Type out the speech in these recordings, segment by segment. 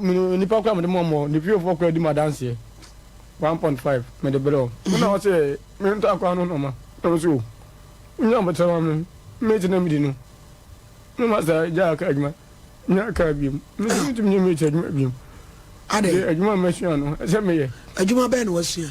Me nipa kora mede mɔmɔ ne fiefoɔ kora di mo adanseɛ one point five mede brɛ o wo na ɔsɛ me ntɔ akora no nɔma na ɔsɛ o wonya abotire ma me mate na medi no me ma saa gya aka adwuma nya aka abiem me sɛ metumi nyɛ mate adwuma abiem adwuma masua no ɛsɛ meyɛ adwuma bɛɛ na wasua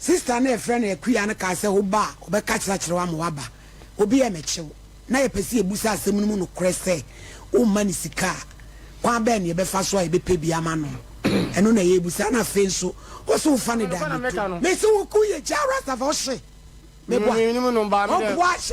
Sista no a yɛfrɛ no Akua no kaa sɛ, Wo ba a, ɔbɛka akyerɛ akyerɛ wo ama woaba. Obi a ɛmmɛkyɛ wo. Ná yɛpɛ sɛ yebisa asɛm no mu nokorɛ sɛ, Womma no sika a, kwan bɛn na yɛbɛfa so a yɛbɛpɛ bi ama no? Ɛno na yɛrebisa. Ɛnna afei nso, ɔse, Wofa ne dan no to? Mese, Woyɛ Jah Rastafah? Ɔse, Meboa. Ɔboa? Ɔse,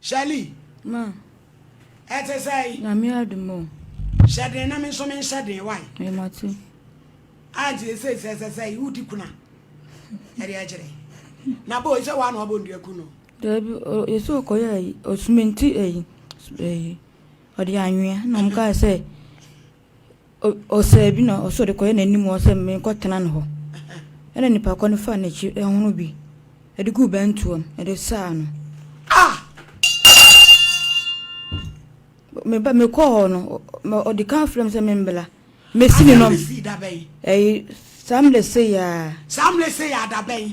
Shirley. Ma. Ɛte sɛn? Nyame adom o. Hyɛ den na me nso menhyɛ den wae. Ɛmate. Anti ɛsɛ sɛ sɛ sɛ wodi kuna. Ɛde akyerɛ. Na bo sɛ wa na ɔbɔ ndua ku no. Dabi yɛsɛ ɔkɔyɛ ayi ɔsumenti ayi ayi ɔde anwea na ɔmo kaa sɛ. Ɔsaa bi na ɔsɔɔ de kɔyɛ n'anim hɔ sɛ, Menkɔ tena ne hɔ. Ɛna nnipa kɔ no faa n'akyi hono bi de guu bɛntoam de saa no. Ah! Me ba, me kɔɔ hɔ no, ɔde kan frɛ me sɛ membla. Mesi ne nom. Ɛyi, saa mmerɛ sɛ yaa. Saa mmerɛ sɛ yaa da bɛn?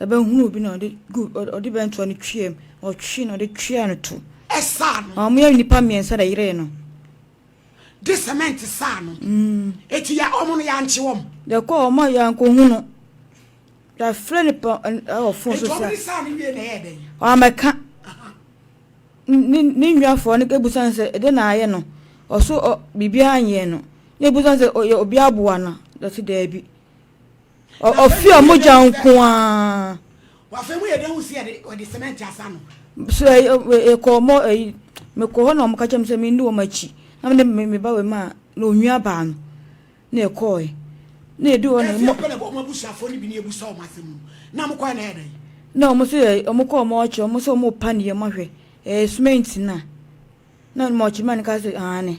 Ɛbɛhunu obi na ɔde gu ɔde bɛntoa no twea mu, na ɔtwee na ɔde twea no to. Ɛsa ano. Na wɔyɛ nnipa mmiɛnsa na ɛyeree no. De sɛmɛnt sa ano. Eti ya wɔn no yankye wɔn. Yɛkɔ wɔn a yankohu no. Yɛafrɛ no pa ɛwɔ fon so sɛ. Eti wɔn de sa no wie na ɛyɛ dɛn? Wɔamɛka. Ne ne nnuafoɔ no ebusa no sɛ ɛde na ayɛ no. Ɔso ɔ biribiara nyɛɛ no. Na ebusa no sɛ ɔyɛ obi aboa no. Ɔsi daabi. Ɔfi a mogya nko ara. Wafɛ mu yɛ dɛ hu si yɛ de ɔde cement asa no. So ɛkɔ ɔmɔ ɛyi mekɔ hɔ na ɔmo kakyɛ mi sɛ mi ndi wɔn akyi na mi ne mi ba wɔ mu a na onua baa no na ɛkɔɔ yɛ na edu hɔ na ɛmɔ. Ɛfi ɛpɛlɛ bɔ ɔmo abusuafo ne bi na ebusa ɔmo asɛm mu na ɔmo kɔɛ na ɛyɛ dɛ. Na ɔmo so yɛ ɔmo kɔ ɔmo ɔkyɛ ɔmo sɛ ɔmo pa ne yɛ ɔmo ahwɛ ɛɛ cement na na ɔmo ɔkyɛ mɛ ne ka sɛ aane.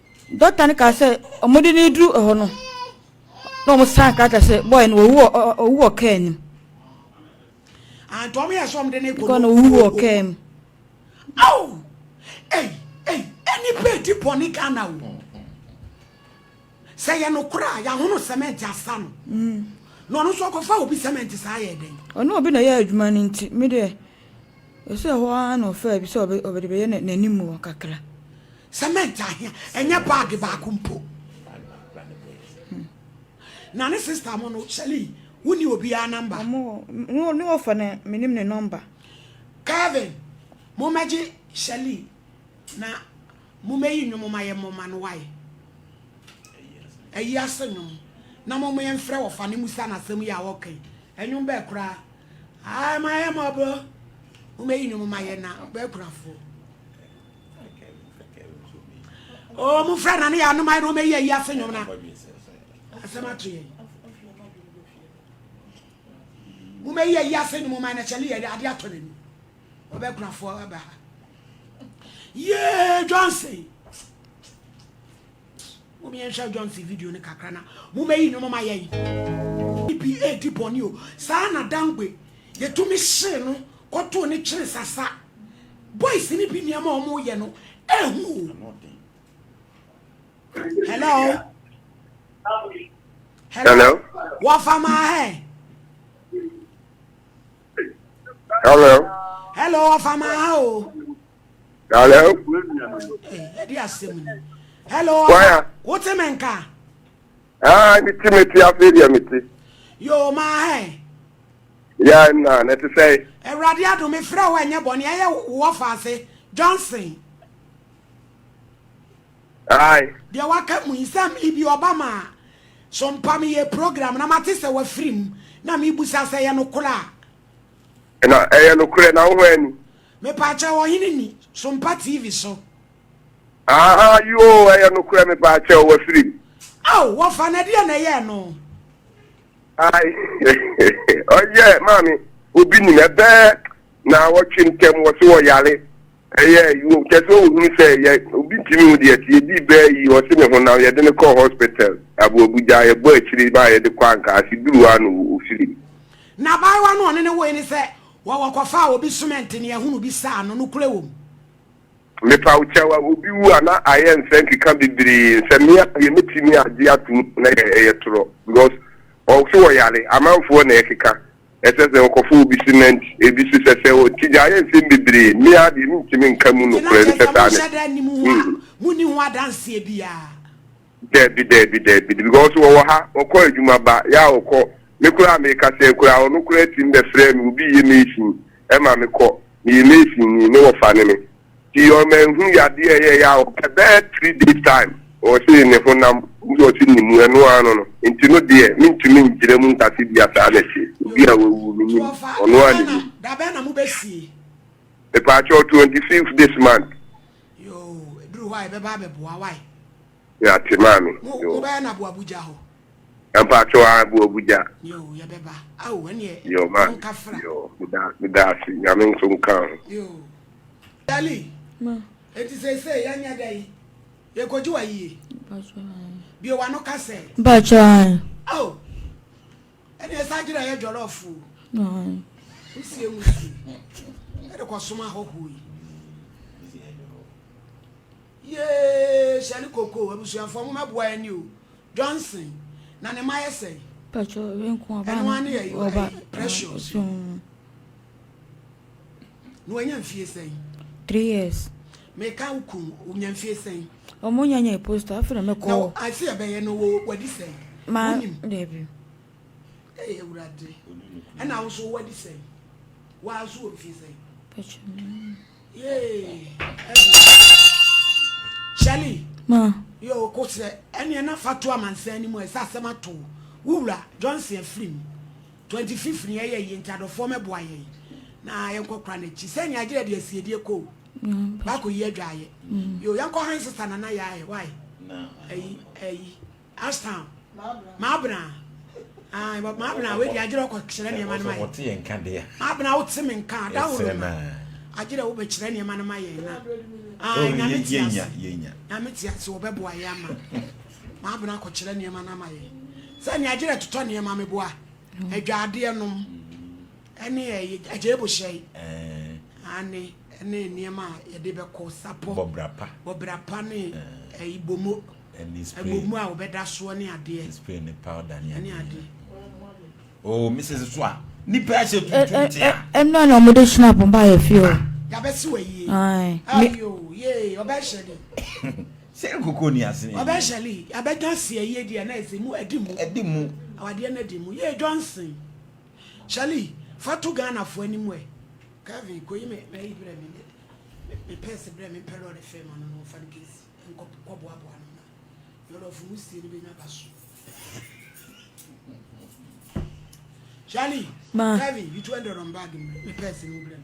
Dɔkta no kaa sɛ wɔde no reduru hɔ no, na wɔn san krataa sɛ bɔɔl no wɔwu wɔ ɔwu wɔ kaa nim. Antɔm yɛ sɛ wɔn de ne kɔ no wɔwu wɔ kaa mu. Aw! Ei ei ɛni pɛ ti bɔ ne Ghana o. Sɛ yɛ no kora a yɛahono sɛmɛnti asa no. Mm. Na ɔno nso ɔkɔfa obi sɛmɛnti saa yɛ dɛn? Ɔno obi na yɛ adwuma no nti me deɛ Ɔsɛ ɛhɔ ara na ɔfaa bi sɛ ɔbɛ de bɛyɛ n'anim hɔ kakra. Cement ahia, ɛnyɛ bag baako mpo. Na ne sister mo no, Shelly, wo ni obiara number? Ɔmo wɔ, ne ne ɔfa ne, me nim ne number. Kevin, mo mɛgye Shelly na mo mɛyi nnwom mma yɛ mmɔ mma no wae. Ayi ase nnwom, na mo mo yɛ mfrɛ ɔfa ne musa no asɛm yi a ɔɔka yi, ɛnwom bɛɛ koraa Aah ma yɛ mɔbrɔ mo mɛ yinu mo ma yɛ na bɛ kura fo. Oh mo fɛ na ne yɛ anoma yɛ na ɔmɛ yi ayi ase nyom na asɛm ato yɛ. Mo mɛ yi ayi ase nyom ma na kyɛle yɛ ade atɔ n'ani ɔbɛ kura fo aba ha. Yee Johnson. Mom yɛnhwɛ Johnson video no kakra na momɛyi nnwom ma yɛn. Ppa di bɔne o. Saa na Dangbe yɛtumi hyee no kɔtoo ne kyere sasa. Boys no bi nneɛma a wɔyɛ no ɛho o. Hello. Hello. Wafa ma hɛ. Hello. Hello, wafa ma ha o. Hello. Ẹdi eh, asem ni. Hello. Waya. Wo ti mi nka. Ah, mi ti mi ti afe di mi ti. Yo ma hẹ. Ya na na ti sẹ. Ẹwurade adum mi fira wa ẹnyẹ bọ ni ẹyẹ wọ fa ase Johnson. Ayi. Deɛ waka mu yi sɛ mi bi ɔba ma so mpa mi yɛ program na ma ti sɛ wafiri mu na mi busa sɛ yɛ no kora. Na ɛyɛ no kora na wo hɔ ɛni. Mepaakyɛw ɔhene ni so mpa TV so. Ahaa yoo ɛyɛ nokorɛ mepaakyɛw wafiri mu. Ao wɔfa no ɛdeɛ na ɛyɛɛ no. Ae ɔyɛ maame obi nim ɛbɛɛ na wɔtwe ntɛm wɔ so wɔyare ɛyɛ yoo kyɛ sɛ ɔhunu sɛ yɛ obi ntumi ho deɛ ti ɛdi bɛɛ yi wɔ se ne ho nam yɛde no kɔɔ hospital abo Abuja yɛbɔ akyire ba yɛde kɔ anka ase duru ano wɔ ofiri mu. N'abaayewa no ɔne ne woe ne sɛ Wɔ wɔkɔfaa obi sumɛnte ne ahunu bi saa no, nokorɛ wɔ mu. Mepa wo kyɛw a obi wu a na ayɛ nsɛ nkeka bebree nsɛ me a deɛ mɛtumi agye atom na yɛ ɛyɛ torɔ because ɔwo so wɔ yare amanfoɔ na ɛkeka ɛsɛ sɛ wɔkɔfa obi cement ebi so sɛ sɛ wɔ ti gya ayɛ nsɛm bebree me a deɛ mentumi nka mu nokorɛ no sɛ saa ne hmm. Dabi dabi dabi because wɔwɔ ha wɔkɔ adwuma ba ya wɔkɔ me koraa me kasa yi koraa ɔno koraa tim bɛ frɛ me obi yɛ mason ɛma me kɔ me yɛ mason ni ne wɔfa ne me ti yɔ ma nhu yadeɛ ɛyɛ ya ɔpɛ bɛ three days time ɔse ne ho nam nso ɔse ne mu ɛno ano no nti no deɛ me ntumi ngyina mu nkase bi asaa na ɛte obi a wawu me nim ɔno a ne nim. Dabɛn na mo bɛ sie. Mepaakyɛw twenty fifth this month Yoo eduru hɔ a yɛbɛba abɛboa wae. Yɛate maame yoo. Mo bɛyɛ no aboabuja hɔ. Mpakyɛw aa aboabuja. Yoo yɛbɛba ao ɛneɛ monka fra. Yoo maame meda ase nyame nso nka ho. Yoo Dali ma enti seesei yɛnyɛ dɛ yi yɛkɔgye wa yie. Bue wano ka sɛ. Mpakyɛw ae. Ao. Ɛne ɛsa agyina yɛ jollof o. Wosie wusie ɛde kɔsom ahɔhoɔ yi. Yee hyɛle koko abusuafoɔ mo mɛboa ɛni o Johnson na ne ma yɛ sɛn. Pɛtro renko ɔba ɛno ane ɛyɛ precious. Na wanya mfie sɛn? Three years. Meka wo kun, wonya mfie sɛn? Ɔmo nya nya posta, afei na mekɔ. Na ase ɛbɛyɛ no wo wadi sɛn? Ma, daabi. Ee, awurade. Ɛna wo so wadi sɛn? Waa so wɔ mfie sɛn? Pɛkyɛ me. Yee, Shirley. Ma. Yo, kosɛ, ɛneɛ na fa to amansan ni mu, ɛsɛ asɛm ato wo wura Johnson afiri mu. Twenty fifth ni ɛyɛ yie nti adɔfoɔ mɛboa yɛn na yɛnkɔ kora n'akyi sɛ nea agyerɛ de asiedie kɔ o baako yi adwaayɛ yo yɛnkɔ han sista nana yɛ ayɛ wae ayi ayi ashtown maabena maabena wei de agyerɛ ɔkɔ kyerɛ nneɛma no ma yɛ maabena wote me nka adahoro ma agyerɛ wobɛkyerɛ nneɛma no ma yɛn na nyame te ase nyame te ase wɔbɛboa yɛ ama Maben akɔkyerɛ nneɛma no ama yɛn sɛ nea gyerɛ totɔ nneɛma meboa adwaadeɛ nom ɛne agya ebohyɛe ane ɛne nneɛma a yɛde bɛkɔ sapɔ bɔbra pa ne ibomo agbomu a wɔbɛda soɔ ne adeɛ ne adeɛ Oh, Mrs. Swa, nipa ɛhyɛ tuntum tia. Ɛnna na wɔde hyina pɔmpa yɛ fi o. Yabɛsi wɔ yie. Ayi o, yee, ɔbɛhyɛ de. Sɛ nkoko nni ase ne yie. Ɔbɛhyɛ li, yɛabɛka aseɛ yie deɛ na ɛsɛ mu, adi mu. Adi mu. Awadeɛ no adi mu yie Johnson. Hyɛ li, fa to Ghanafoɔ anim ɛ. Kevin, kɔyi me m'ayi brɛ me, me purse brɛ me, mpɛ lɔɔre fare ma no na ɔmfa no kɛsi nkɔ kɔboaboa no na Yɔlɔfo wusie no bɛnya ba so. Hyɛ li, Kevin, yi 200 wɔ me bag mu brɛ me purse no mu brɛ me,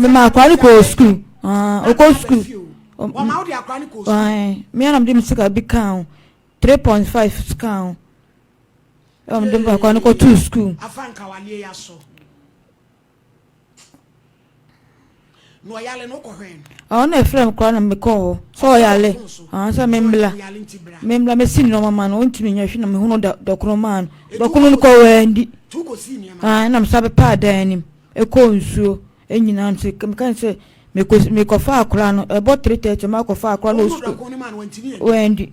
mema akora no kɔɔ sukuu ɔkɔ sukuu mmea na mede me sika bi kaa ho three point five kaa ho ɛwɔ mede akora no kɔtoo sukuu Na ɔyale no wokɔ hwɛn no. Ɔno na ɛfrɛ me koraa na mekɔɔ hɔ sɛ ɔyale ɔn sɛ memmla memmla mɛsi nneɛma ma no ɔntumi nyɛ hwɛ na mehunu dɔ dɔkono maa no dɔkono no kɔ wandi aa na mesa bɛpa adan anim ɛkɔɔ nsuo ɛnyina no sɛ meka sɛ mekɔsi mekɔfa akora no ɛbɔ 3:30 makɔfa akora no wɔ sukuu wandi